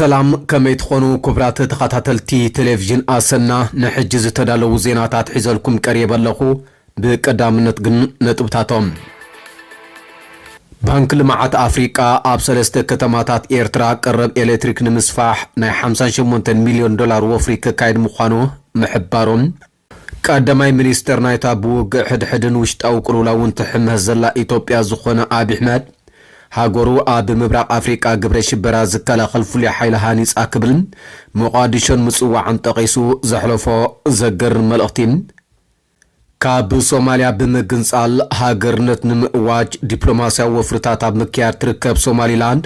ሰላም ከመይ ትኾኑ ኩቡራት ተኻታተልቲ ቴሌቪዥን ኣሰና ንሕጂ ዝተዳለዉ ዜናታት ሒዘልኩም ቀሪበ ኣለኹ ብቀዳምነት ግን ነጥብታቶም። ባንኪ ልምዓት ኣፍሪቃ ኣብ ሰለስተ ከተማታት ኤርትራ ቀረብ ኤሌክትሪክ ንምስፋሕ ናይ ሓምሳን ሸሞንተን ሚልዮን ዶላር ወፍሪ ከካይድ ምዃኑ ምሕባሩ፣ ቀዳማይ ሚኒስተር ናይታ ብውግእ ሕድሕድን ውሽጣዊ ቅልውላውን ትሕመስ ዘላ ኢትዮጵያ ዝኾነ ኣብዪ ኣሕመድ፣ ሃገሩ ኣብ ምብራቕ ኣፍሪቃ ግብረ ሽበራ ዝከላኸል ፍሉይ ሓይሊ ሃኒጻ ክብል ሞቓድሾን ምጽዋዖም ጠቒሱ ዘሕለፎ ዘገርም መልእኽቲ፣ ካብ ሶማልያ ብምግንጻል ሃገርነት ንምእዋጅ ዲፕሎማስያዊ ወፍርታት ኣብ ምክያድ ትርከብ ሶማሊላንድ፣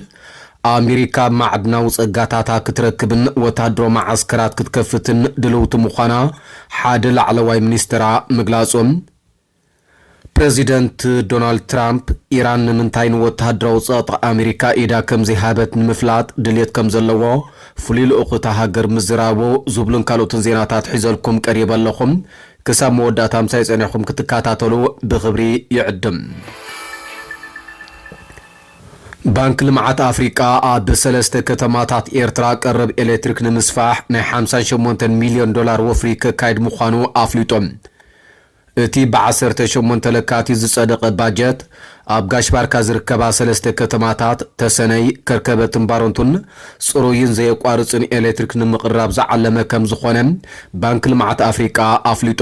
ኣሜሪካ ማዕድናዊ ጸጋታታ ክትረክብን ወተሃደራዊ መዓስከራት ክትከፍትን ድልውቲ ምዃና ሓደ ላዕለዋይ ሚኒስተራ ምግላጾም፣ ፕረዚደንት ዶናልድ ትራምፕ፣ ኢራን ንምንታይ ንወተሃደራዊ ጸቕጢ ኣሜሪካ ኢዳ ከምዘይሃበት ንምፍላጥ ድልየት ከምዘለዎ፣ ፍሉይ ልኡኽ እታ ሃገር ምዝራቡ ዝብሉን ካልኦትን ዜናታት ሒዘልኩም ቀሪበ ኣለኹ። ክሳብ መወዳእታ ምሳይ ጸኒሕኩም ክትከታተሉ ብኽብሪ ይዕድም። ባንክ ልምዓት ኣፍሪቃ ኣብ ሰለስተ ከተማታት ኤርትራ ቀረብ ኤሌክትሪክ ንምስፋሕ ናይ ሓምሳን ሸሞንተን ሚልዮን ዶላር ወፍሪ ከካይድ ምዃኑ ኣፍሊጡ። እቲ ብዓሰርተ ሸሞንተ ለካቲት ዝፀደቐ ባጀት ኣብ ጋሽ ባርካ ዝርከባ ሰለስተ ከተማታት ተሰነይ፣ ከርከበትን ባረንቱን ፅሩይን ዘየቋርፅን ኤሌክትሪክ ንምቕራብ ዝዓለመ ከምዝኾነ ባንኪ ልምዓት ኣፍሪቃ ኣፍሊጡ።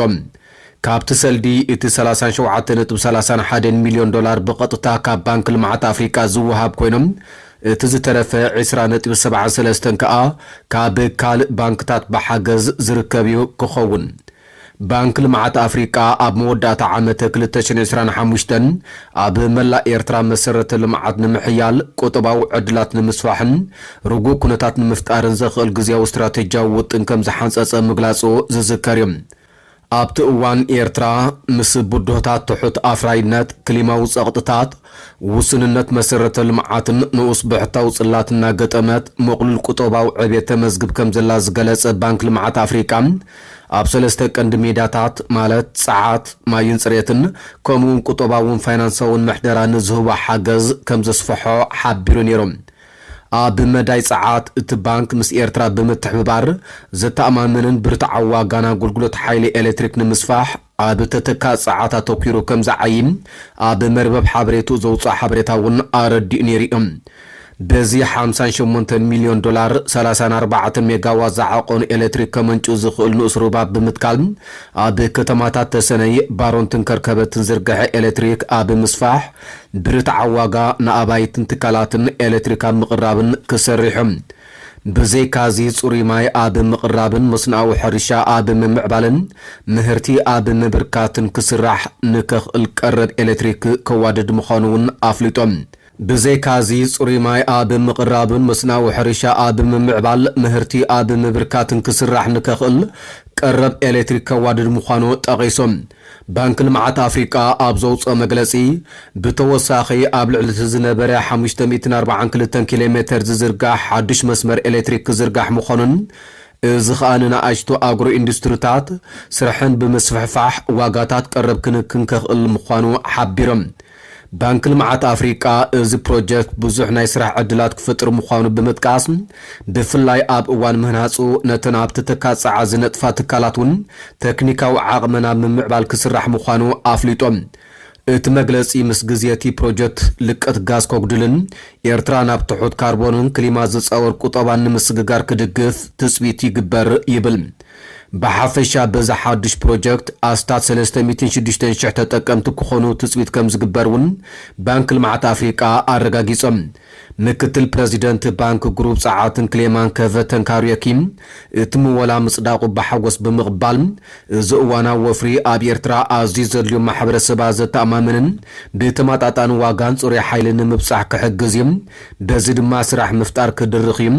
ካብቲ ሰልዲ እቲ ሰላሳን ሸውዓተ ነጥቢ ሰላሳን ሓደን ሚልዮን ዶላር ብቐጥታ ካብ ባንኪ ልምዓት ኣፍሪቃ ዝወሃብ ኮይኑ እቲ ዝተረፈ ዕስራ ነጥቢ ሰብዓን ሰለስተን ከዓ ካብ ካልእ ባንክታት ብሓገዝ ዝርከብ ክኸውን ባንክ ልምዓት ኣፍሪቃ ኣብ መወዳእታ ዓመት ክልተ ሽሕን ዕስራን ሓሙሽተን ኣብ መላእ ኤርትራ መሰረተ ልምዓት ንምሕያል፣ ቁጠባዊ ዕድላት ንምስፋሕን ርጉእ ኩነታት ንምፍጣርን ዘኽእል ግዝያዊ ስትራቴጂያዊ ውጥን ከምዝሓንጸጸ ምግላጹ ዝዝከር እዩ። ኣብቲ እዋን ኤርትራ ምስ ብድሆታት ትሑት ኣፍራይነት፣ ክሊማዊ ጸቕጥታት፣ ውሱንነት መሰረተ ልምዓትን ንኡስ ብሕታዊ ጽላት እናገጠመት ምቕሉል ቁጠባዊ ዕብየት ተመዝግብ ከምዘላ ዝገለጸ ባንክ ልምዓት ኣፍሪቃ፣ ኣብ ሰለስተ ቀንዲ ሜዳታት ማለት ጸዓት፣ ማይን ጽሬትን ከምኡ'ውን ቁጠባውን ፋይናንሳውን ምሕደራ ንዝህቦ ሓገዝ ከም ዘስፍሖ ሓቢሩ ነይሩ። ኣብ መዳይ ጸዓት፣ እቲ ባንክ ምስ ኤርትራ ብምትሕብባር ዘተኣማምንን ብርትዓዊ ዋጋን ኣገልግሎት ሓይሊ ኤሌክትሪክ ንምስፋሕ፣ ኣብ ተተካእ ጸዓት ኣተኲሩ ከም ዝዓዪ ኣብ መርበብ ሓበሬትኡ ዘውጽኦ ሓበሬታ እውን ኣረዲኡ ነይሩ እዩ። በዚ ሓምሳን ሸሞንተን ሚልዮን ዶላር፣ ሰላሳን ኣርባዕተ ሜጋዋት ዝዓቐኑ ኤለትሪክ ከመንጩ ዝኽእል ንኡስ ሩባ ብምትካል ኣብ ከተማታት ተሰነይ፣ ባሮንትን ከርከበትን ዝርገሐ ኤለትሪክ ኣብ ምስፋሕ፣ ብርትዓዊ ዋጋ ንኣባይትን ትካላትን ኤለትሪክ ኣብ ምቕራብን ክሰርሕ እዩ። ብዘይካ'ዚ ጽሩይ ማይ ኣብ ምቕራብን መስኖኣዊ ሕርሻ ኣብ ምምዕባልን ምህርቲ ኣብ ምብርካትን ክስራሕ ንከኽእል ቀረብ ኤሌክትሪክ ከዋድድ ምዃኑ'ውን ኣፍሊጦም። ብዘይካ'ዚ ጽሩይ ማይ ኣብ ምቕራብን መስኖኣዊ ሕርሻ ኣብ ምምዕባል ምህርቲ ኣብ ምብርካትን ክስራሕ ንከኽእል ቀረብ ኤሌክትሪክ ከዋድድ ምዃኑ ጠቒሶም። ባንኪ ልምዓት ኣፍሪቃ ኣብ ዘውጽኦ መግለጺ፣ ብተወሳኺ ኣብ ልዕሊ'ቲ ዝነበረ ሓሙሽተ ሚእትን ኣርብዓን ክልተን ኪሎ ሜተር ዝዝርጋሕ ሓዱሽ መስመር ኤሌክትሪክ ክዝርጋሕ ምዃኑን እዚ ከኣ ንናኣሽቱ ኣግሮ ኢንዱስትሪታት ስርሐን ብምስፍሕፋሕ ዋጋታት ቀረብ ክንክን ከኽእል ምዃኑ ሓቢሮም። ባንኪ ልምዓት ኣፍሪቃ እዚ ፕሮጀክት ብዙሕ ናይ ስራሕ ዕድላት ክፍጥር ምዃኑ ብምጥቃስ፣ ብፍላይ ኣብ እዋን ምህናጹ ነተን ኣብቲ ትካል ጸዓት ዝነጥፋ ትካላት እውን ተክኒካዊ ዓቕመን ኣብ ምምዕባል ክስራሕ ምዃኑ ኣፍሊጡ። እቲ መግለጺ ምስ ግዜ እቲ ፕሮጀክት ልቀት ጋዝ ከጉድልን ኤርትራ ናብ ትሑት ካርቦንን ክሊማ ዝጻወር ቁጠባን ንምስግጋር ክድግፍ ትጽቢት ይግበር ይብል። ብሓፈሻ በዚ ሓዱሽ ፕሮጀክት ኣስታት ሰለስተ ሚእትን ሽዱሽተን ሽሕ ተጠቀምቲ ክኾኑ ትፅቢት ከምዝግበር እውን ባንኪ ልምዓት ኣፍሪቃ ኣረጋጊፆም። ምክትል ፕረዚደንት ባንኪ ግሩብ ፀዓትን ክሌማን ከቨተን ካርዮኪ እቲ ምወላ ምፅዳቑ ብሓጎስ ብምቕባል እዚ እዋናዊ ወፍሪ ኣብ ኤርትራ ኣዝዩ ዘድልዩ ማሕበረሰባት ዘተኣማምንን ብተመጣጣኒ ዋጋን ፅሩይ ሓይሊ ንምብፃሕ ክሕግዝ እዩ በዚ ድማ ስራሕ ምፍጣር ክድርኽ እዩ፣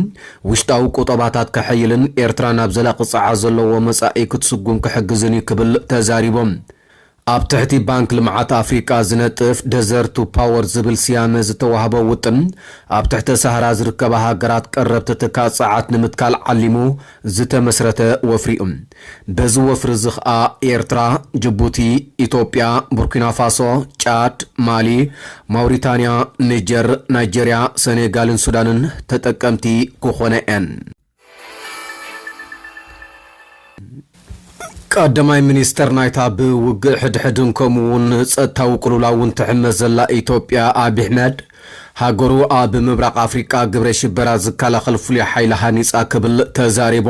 ውሽጣዊ ቁጠባታት ከሐይልን ኤርትራ ናብ ዘላቂ ጸዓት ዘለዎ መጻኢ ክትስጉም ክሕግዝን እዩ ክብል ተዛሪቦም። ኣብ ትሕቲ ባንክ ልምዓት ኣፍሪቃ ዝነጥፍ ደዘርት ቱ ፓወር ዝብል ስያመ ዝተዋህቦ ውጥን ኣብ ትሕተ ሳህራ ዝርከባ ሃገራት ቀረብቲ ትካእ ጸዓት ንምትካል ዓሊሙ ዝተመስረተ ወፍሪ'ዩ። በዚ ወፍሪ እዚ ከኣ ኤርትራ፣ ጅቡቲ፣ ኢትዮጵያ፣ ቡርኪናፋሶ፣ ጫድ፣ ማሊ፣ ማውሪታንያ፣ ኒጀር፣ ናይጀርያ፣ ሰኔጋልን ሱዳንን ተጠቀምቲ ክኾና'የን። ቀዳማይ ሚኒስተር ናይታ ብውግእ ሕድሕድን ከምኡ'ውን ጸጥታዊ ቅልውላውን ትሕመስ ዘላ ኢትዮጵያ ኣቢ ኣሕመድ፣ ሃገሩ ኣብ ምብራቕ ኣፍሪቃ ግብረ ሽበራ ዝከላኸል ፍሉይ ሓይሊ ሃኒጻ ክብል ተዛሪቡ።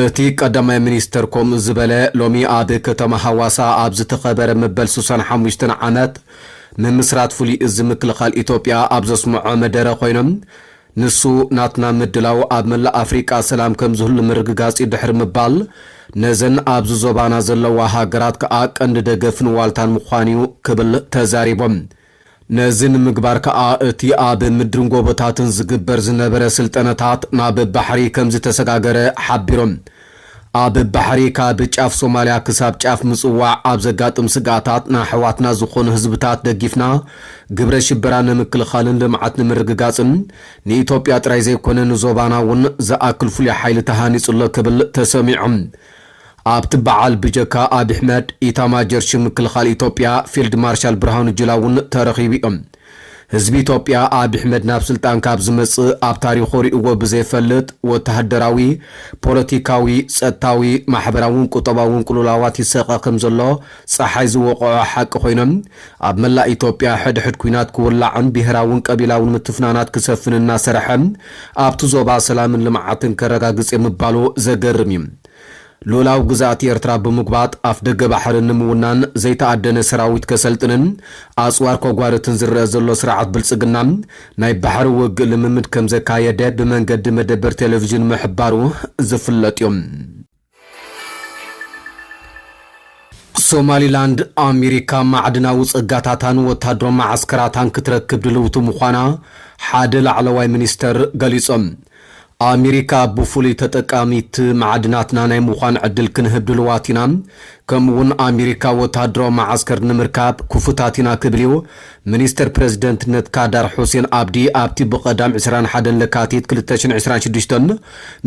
እቲ ቀዳማይ ሚኒስትር ከምኡ ዝበለ ሎሚ ኣብ ከተማ ሃዋሳ ኣብ ዝተኸበረ መበል ስሳን ሓሙሽተን ዓመት ምምስራት ፍሉይ እዝ ምክልኻል ኢትዮጵያ ኣብ ዘስመዖ መደረ ኮይኑ ንሱ ናትና ምድላው ኣብ መላእ ኣፍሪቃ ሰላም ከምዝህሉ ምርግጋፅ እዩ ድሕሪ ምባል ነዘን ኣብዚ ዞባና ዘለዋ ሃገራት ከዓ ቀንዲ ደገፍን ዋልታን ምዃን እዩ ክብል ተዛሪቦም። ነዚ ንምግባር ከኣ እቲ ኣብ ምድርን ጎቦታትን ዝግበር ዝነበረ ስልጠነታት ናብ ባሕሪ ከምዝተሰጋገረ ሓቢሮም። ኣብ ባሕሪ ካብ ጫፍ ሶማልያ ክሳብ ጫፍ ምጽዋዕ ኣብ ዘጋጥም ስግኣታት ንኣሕዋትና ዝኾኑ ህዝብታት ደጊፍና ግብረ ሽበራ ንምክልኻልን ልምዓት ንምርግጋጽን ንኢትዮጵያ ጥራይ ዘይኮነ ንዞባና እውን ዝኣክል ፍሉይ ሓይሊ ተሃኒጹ ኣሎ ክብል ተሰሚዑ። ኣብቲ በዓል ብጀካ ኣብይ ኣሕመድ፣ ኢታማጆር ሹም ምክልኻል ኢትዮጵያ ፊልድ ማርሻል ብርሃኑ ጁላ እውን ተረኺቡ እዩ። ህዝቢ ኢትዮጵያ ኣብይ ኣሕመድ ናብ ስልጣን ካብ ዝመፅእ ኣብ ታሪኹ ሪኡዎ ብዘይፈልጥ ወተሃደራዊ፣ ፖለቲካዊ፣ ፀጥታዊ፣ ማሕበራውን ቁጠባውን ቅልውላዋት ይሰቐ ከምዘሎ ፀሓይ ዝወቕዖ ሓቂ ኮይኑ ኣብ መላእ ኢትዮጵያ ሕድሕድ ኲናት ክውላዕን ብሄራውን ቀቢላውን ምትፍናናት ክሰፍን እናሰርሐ ኣብቲ ዞባ ሰላምን ልምዓትን ከረጋግፅ እየ ምባሉ ዘገርም እዩ። ሉኡላዊ ግዝኣት ኤርትራ ብምጉባጥ ኣፍደገ ባሕሪ ንምውናን ዘይተኣደነ ሰራዊት ከሰልጥንን ኣጽዋር ከጓርትን ዝረኣ ዘሎ ስርዓት ብልጽግና፣ ናይ ባሕሪ ውግእ ልምምድ ከምዘካየደ ብመንገዲ መደበር ቴለቪዥን ምሕባሩ ዝፍለጥ'ዩ። ሶማሊላንድ፣ ኣሜሪካ ማዕድናዊ ጸጋታታን ወተሃደራዊ መዓስከራታን ክትረክብ ድልውቲ ምዃና ሓደ ላዕለዋይ ሚኒስተር ገሊጾም። ኣሚሪካ ብፍሉይ ተጠቃሚት መዓድናትና ናይ ምዃን ዕድል ክንህብ ድሉዋት ኢና፣ ከምኡ'ውን ኣሚሪካ ወተሃደራዊ መዓስከር ንምርካብ ክፉታት ኢና ክብል'ዩ ሚኒስተር ፕረዚደንትነት ካዳር ሑሴን ኣብዲ ኣብቲ ብቀዳም ዕስራን ሓደን ለካቲት ክልተ ሽሕን ዕስራን ሽዱሽተን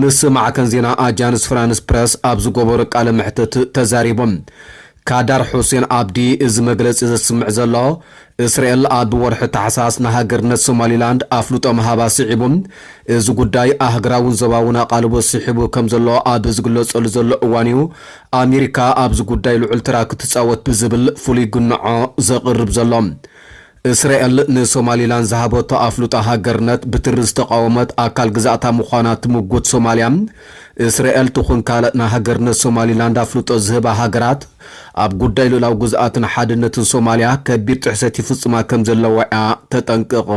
ምስ ማዕከን ዜና ኣጃንስ ፍራንስ ፕረስ ኣብ ዝገበሮ ቃለ መሕትት ተዛሪቡ። ካዳር ሑሴን ኣብዲ እዚ መግለጺ ዘስምዕ ዘሎ እስራኤል ኣብ ወርሒ ታሕሳስ ንሃገርነት ሶማሊላንድ ኣፍልጦ ምሃባ ስዒቡ፣ እዚ ጉዳይ ኣህግራውን ዞባውን ኣቓልቦ ስሒቡ ከም ዘሎ ኣብ ዝግለጸሉ ዘሎ እዋን'ዩ ኣሜሪካ ኣብዚ ጉዳይ ልዑል ተራ ክትጻወት ብዝብል ፍሉይ ግንዖ ዘቕርብ ዘሎ። እስራኤል ንሶማሊላንድ ዝሃበቶ ኣፍልጦ ሃገርነት ብትሪ ዝተቓወመት ኣካል ግዛእታ ምዃና ትምጉት ሶማልያ፣ እስራኤል ትኹን ካልእ ንሃገርነት ሶማሊላንድ ኣፍልጦ ዝህባ ሃገራት፣ ኣብ ጉዳይ ልኡላዊ ግዝኣትን ሓድነትን ሶማልያ ከቢድ ጥሕሰት ይፍጽማ ከም ዘለዋ'ያ ተጠንቅቕ።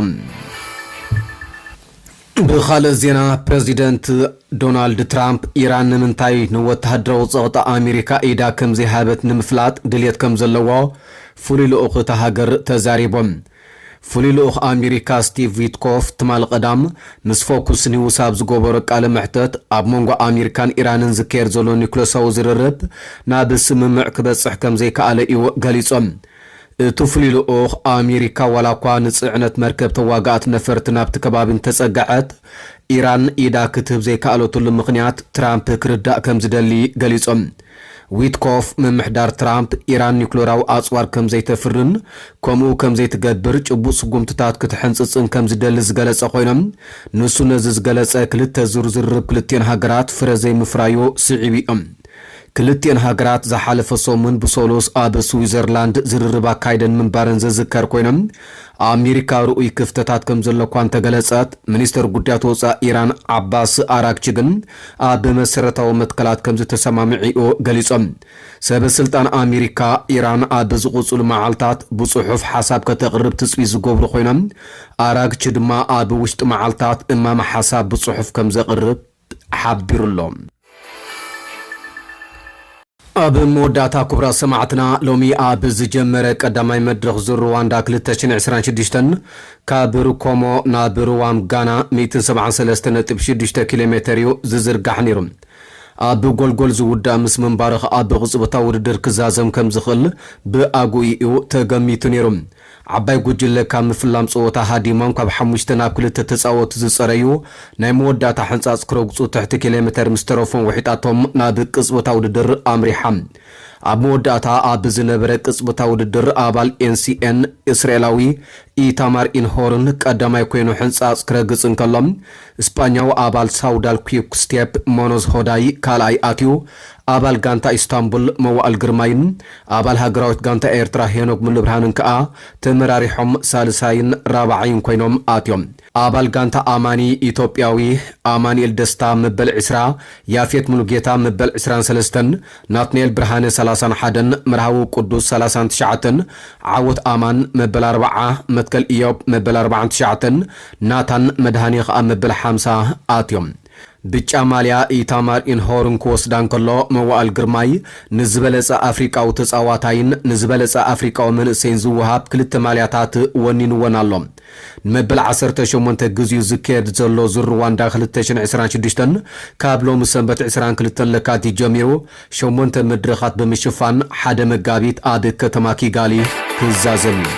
ብኻልእ ዜና ፕረዚደንት ዶናልድ ትራምፕ፣ ኢራን ንምንታይ ንወተሃደራዊ ጸቕጢ ኣሜሪካ ኢዳ ከምዘይሃበት ንምፍላጥ ድልየት ከምዘለዎ ፍሉይ ልኡኽ እታ ሃገር ተዛሪቡ። ፍሉይ ልኡኽ ኣሜሪካ ስቲቭ ዊትኮፍ ትማል ቐዳም ምስ ፎኩስ ኒውስ ኣብ ዝገበሮ ቃለ መሕተት ኣብ መንጎ ኣሜሪካን ኢራንን ዝካየድ ዘሎ ኒኩለሳዊ ዝርርብ ናብ ስምምዕ ክበፅሕ ከምዘይከኣለ እዩ ገሊፁ። እቲ ፍሉይ ልኡኽ ኣሜሪካ ዋላኳ ንፅዕነት መርከብ ተዋጋእቲ ነፈርቲ ናብቲ ከባቢ እንተፀገዐት ኢራን ኢዳ ክትህብ ዘይከኣለትሉ ምኽንያት ትራምፕ ክርዳእ ከምዝደሊ ገሊፁ። ዊትኮፍ፣ ምምሕዳር ትራምፕ ኢራን ኒዩክለራዊ ኣጽዋር ከም ዘይተፍርን ከምኡ ከም ዘይትገብር ጭቡጥ ስጉምትታት ክትሕንጽጽን ከም ዝደሊ ዝገለጸ ኾይኖ፣ ንሱ ነዚ ዝገለጸ ክልተ ዙር ዝርርብ ክልቲኤን ሃገራት ፍረ ዘይምፍራዮ ስዒቡ'ዩ። ክልቲኤን ሃገራት ዝሓለፈ ሰሙን ብሰሉስ ኣብ ስዊዘርላንድ ዝርርብ ኣካይደን ምንባረን ዝዝከር ኮይኑ፣ ኣሜሪካ ርኡይ ክፍተታት ከም ዘሎ'ኳ እንተገለጸት፣ ሚኒስተር ጉዳያት ወጻኢ ኢራን ዓባስ ኣራግቺ ግን ኣብ መሰረታዊ መትከላት ከምዝተሰማምዕ'ዩ ገሊጾም። ሰበ ስልጣን ኣሜሪካ፣ ኢራን ኣብ ዝቕጽሉ መዓልታት ብጽሑፍ ሓሳብ ከተቕርብ ትጽቢት ዝገብሩ ኮይኖም፣ ኣራግቺ ድማ ኣብ ውሽጢ መዓልታት እማመ ሓሳብ ብጽሑፍ ከምዘቕርብ ሓቢሩ'ሎ። ኣብ መወዳእታ ኩቡራት ሰማዕትና ሎሚ ኣብ ዝጀመረ ቀዳማይ መድረኽ ዙር ርዋንዳ ክልተ ሽሕን ዕስራን ሽዱሽተን ካብ ሩኮሞ ናብ ርዋም ጋና ሚእትን ሰብዓን ሰለስተ ነጥቢ ሽዱሽተ ኪሎ ሜተር እዩ ዝዝርጋሕ ነይሩ። ኣብ ጎልጎል ዝውዳእ ምስ ምንባሩ ከኣ ብቕጽበታዊ ውድድር ክዛዘም ከምዝኽእል ብኣግኡ እዩ ተገሚቱ ነይሩ። ዓባይ ጉጅለ ካብ ምፍላም ጸወታ ሃዲሞም ካብ ሓሙሽተ ናብ ክልተ ተጻወቲ ዝጸረዩ ናይ መወዳእታ ሕንጻጽ ክረግጹ ትሕቲ ኪሎሜተር ምስ ተረፎም ውሒጣቶም ናብ ቅጽበታዊ ውድድር ኣምሪሓ። ኣብ መወዳእታ ኣብ ዝነበረ ቅጽበታዊ ውድድር ኣባል ኤንሲኤን እስራኤላዊ ኢታማር ኢንሆርን ቀዳማይ ኮይኑ ሕንጻጽ ክረግጽ እንከሎ፣ ስጳኛዊ ኣባል ሳውዳል ኲክስቴፕ ሞኖዝ ሆዳይ ካልኣይ ኣትዩ፣ ኣባል ጋንታ ኢስታንቡል መዋእል ግርማይን ኣባል ሃገራዊት ጋንታ ኤርትራ ሄኖግ ሙሉብርሃንን ከኣ ተመራሪሖም ሳልሳይን ራብዓይን ኮይኖም ኣትዮም። ኣባል ጋንታ ኣማኒ ኢትዮጵያዊ ኣማኒኤል ደስታ መበል ዕስራ፣ ያፌት ሙሉጌታ መበል ዕስራን ሰለስተን፣ ናትንኤል ብርሃነ ሰላሳን ሓደን፣ መርሃዊ ቁዱስ ሰላሳን ትሽዓተን፣ ዓወት ኣማን መበል ኣርባዓ፣ መትከል እዮብ መበል ኣርባዓን ትሽዓተን፣ ናታን መድሃኔ ከኣ መበል ሓምሳ ኣትዮም። ብጫ ማልያ ኢታማር ኢንሆርን ክወስዳ እንከሎ፣ መዋእል ግርማይ ንዝበለጸ ኣፍሪቃዊ ተጻዋታይን ንዝበለጸ ኣፍሪቃዊ መንእሰይን ዝወሃብ ክልተ ማልያታት ወኒንወን ኣሎ። ንመበል ዓሰርተ ሸሞንተ ግዚኡ ዝካየድ ዘሎ ዙር ርዋንዳ ክልተ ሽሕን ዕስራን ሽዱሽተን ካብ ሎሚ ሰንበት ዕስራን ክልተን ለካቲት ጀሚሩ ሸሞንተ መድረኻት ብምሽፋን ሓደ መጋቢት ኣብ ከተማ ኪጋሊ ክዛዘም እዩ።